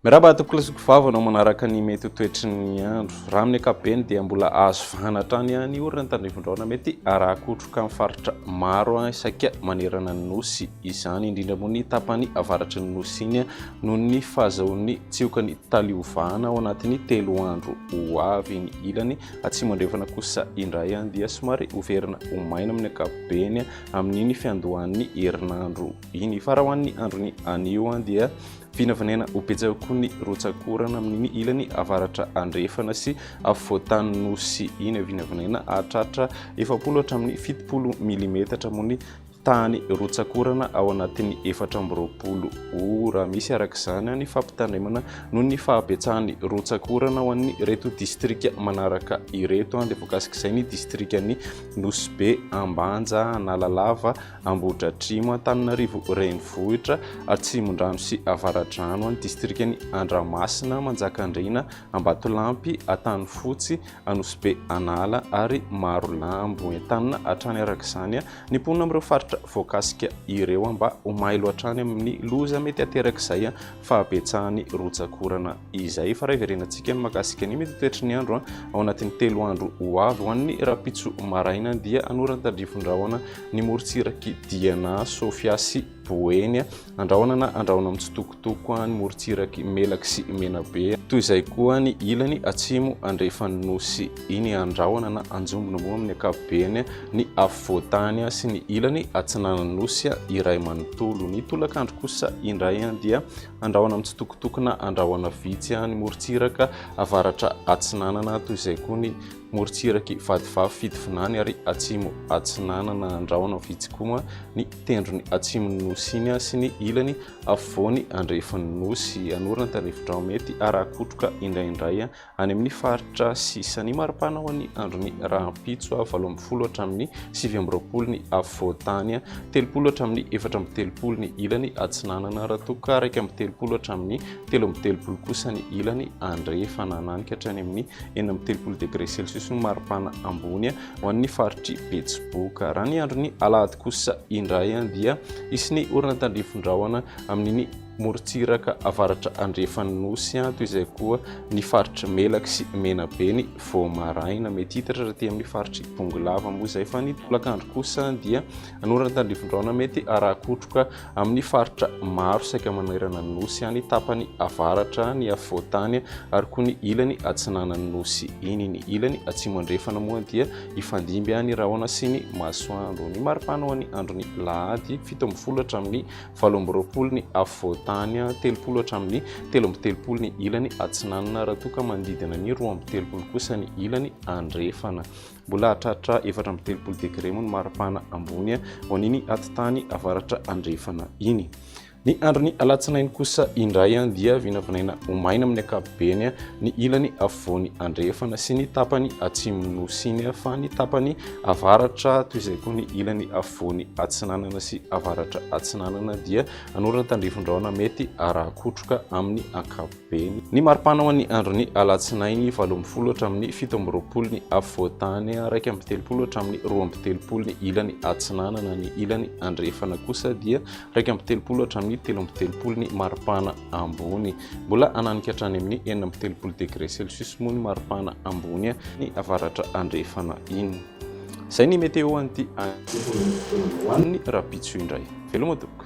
Miraba atokolo sy kovavo anao manaraka ny mety ho toetry ny andro. Raha amin'ny ankapobeny dia mbola azo vahana hatrany any orina ny tandrifin-drahona mety arakotroka amin'ny faritra maro isaika manerana ny nosy izany, indrindra moa ny tapany avaratry ny nosy iny. noho ny fahazahoan'ny tsiokany taliovana ao anatin'ny telo andro ho avy ny ilany atsimo andrefana kosa indray any dia somary hoverina ho maina amin'ny ankapobeny amin'iny fiandohan'ny herinandro iny fa raha ho an'ny androny anio any dia vinavinena ho betsaka koa ny rotsakorana amin'iny ilany avaratra andrefana sy afovoantany nosy iny vinavinena hahatratra efapolo hatramin'ny fitopolo milimetatra moa ny tany rotsak'orana ao anatin'ny efatra amby roapolo ora misy araka izany ny fampitandremana noho ny fahabetsahan'ny rotsak'orana ho an'ny reto distrika manaraka ireto an dia voakasik'izay ny distrikan'ny nosbe ambanja analalava ambodratrimo antananarivo renivohitra atsimondrano sy avaradrano an'ny distrikan'ny andramasina manjakandriana ambatolampy atany fotsy anosbe anala ary maro lambo entanina hatrany araka izany Ny mponina amin'ireo faritra voakasika ireo aho mba ho mailo hatrany amin'ny loza mety aterak'izay fahabetsahan'ny rotsak'orana izay. Efa iray verenantsika ny makasika ny mety toetry ny andro ao anatin'ny telo andro ho avy. Ho an'ny rapitso maraina dia hanoran-tandrifin-drahona ny morontsirak'i Diana, Sofia sy Boeny. Andrahoana na andrahoina mitsitokotoko ny morontsiraky Melaky sy Menabe. Toy izay koa ny ilany atsimo andrefan'ny Nosy iny andrahoana na anjombona moa amin'ny ankapobeny ny afovoan-tany sy ny ilany atsinanan'ny Nosy iray manontolo. Ny tolakandro kosa indray dia andrahoana mitsitokotoko na andrahoana vitsy ny morontsiraka avaratra atsinanana toy izay koa ny morontsiraky vadivavy Fitovinany ary atsimo atsinanana Andrahona Fitsikoma ny tendrony atsimon'ny Nosy iny sy ny ilany afovoany andrefan'ny Nosy Anora Antanefin-dRahomety ary hakotroka indraindray any amin'ny faritra sisa ny maripana ho an'ny andron'ny rahampitso ah valo ambin'ny folo hatramin'ny sivy amby roapolo ny afovoantany ah telopolo hatramin'ny efatra amby telopolo ny ilany atsinanana raha toa ka iraika amby telopolo hatramin'ny telo amby telopolo kosa ny ilany andrefana, nanikatra any amin'ny enina amby telopolo degré celsius ny maripana ambony ho an'ny faritr'i Betsiboka. Raha ny andron'ny alahady kosa indray dia hisy ny orana tandrifin-drahona amin'ny morontsiraka avaratra andrefan'ny nosy an toy izay koa ny faritry melaky sy menabe ny vao maraina mety hitatra raha aty amin'ny faritry bongolava moa izay fa ny tolakandro kosa dia anorana tandrifindraona mety arakotroka amin'ny faritra maro saika manerana ny Nosy any tapany avaratra, ny afovoan-tany ary koa ny ilany atsinanan'ny Nosy iny. Ny ilany atsimo-andrefana moa dia hifandimby any rahona sy ny masoandro. Ny maripana ho an'ny andron'ny lahady, fito ambin'ny folo hatramin'ny valo amby roapolo ny afovoan-tany, telopolo hatramin'ny telo amby telopolo ny ilany atsinanana raha toa ka manodidina ny roa amby telopolo kosa ny ilany andrefana. Mbola hahatratra efatra amby telopolo degre moa ny maripana ambony ho an'iny atitany avaratra andrefana iny. Ny andron'ny alatsinainy kosa indray dia vinavinaina ho maina amin'ny ankapobeny ny ilany afovoany andrefana sy ny tapany atsimon'ny nosy iny fa ny tapany avaratra toy izay koa ny ilany afovoany atsinanana sy avaratra atsinanana dia hanorana tandrifin-drahona mety araha-kotroka amin'ny ankapobeny. be ny maripana ho an'ny andron'ny alatsinainy valo ambin'ny folo hatramin'ny fito amby roapolo ny afovoantany araika amby telopolo hatramin'ny roa amby telopolo ny ilany atsinanana ny ilany andrefana kosa dia raika amby telopolo hatramin'ny telo amby telopolo ny maripana ambony mbola ananika hatrany amin'ny enina amby telopolo degré celsius moa ny maripana ambony ny avaratra andrefana iny izay ny météo an'ity ho an'ny rapitso indray veloma tokoa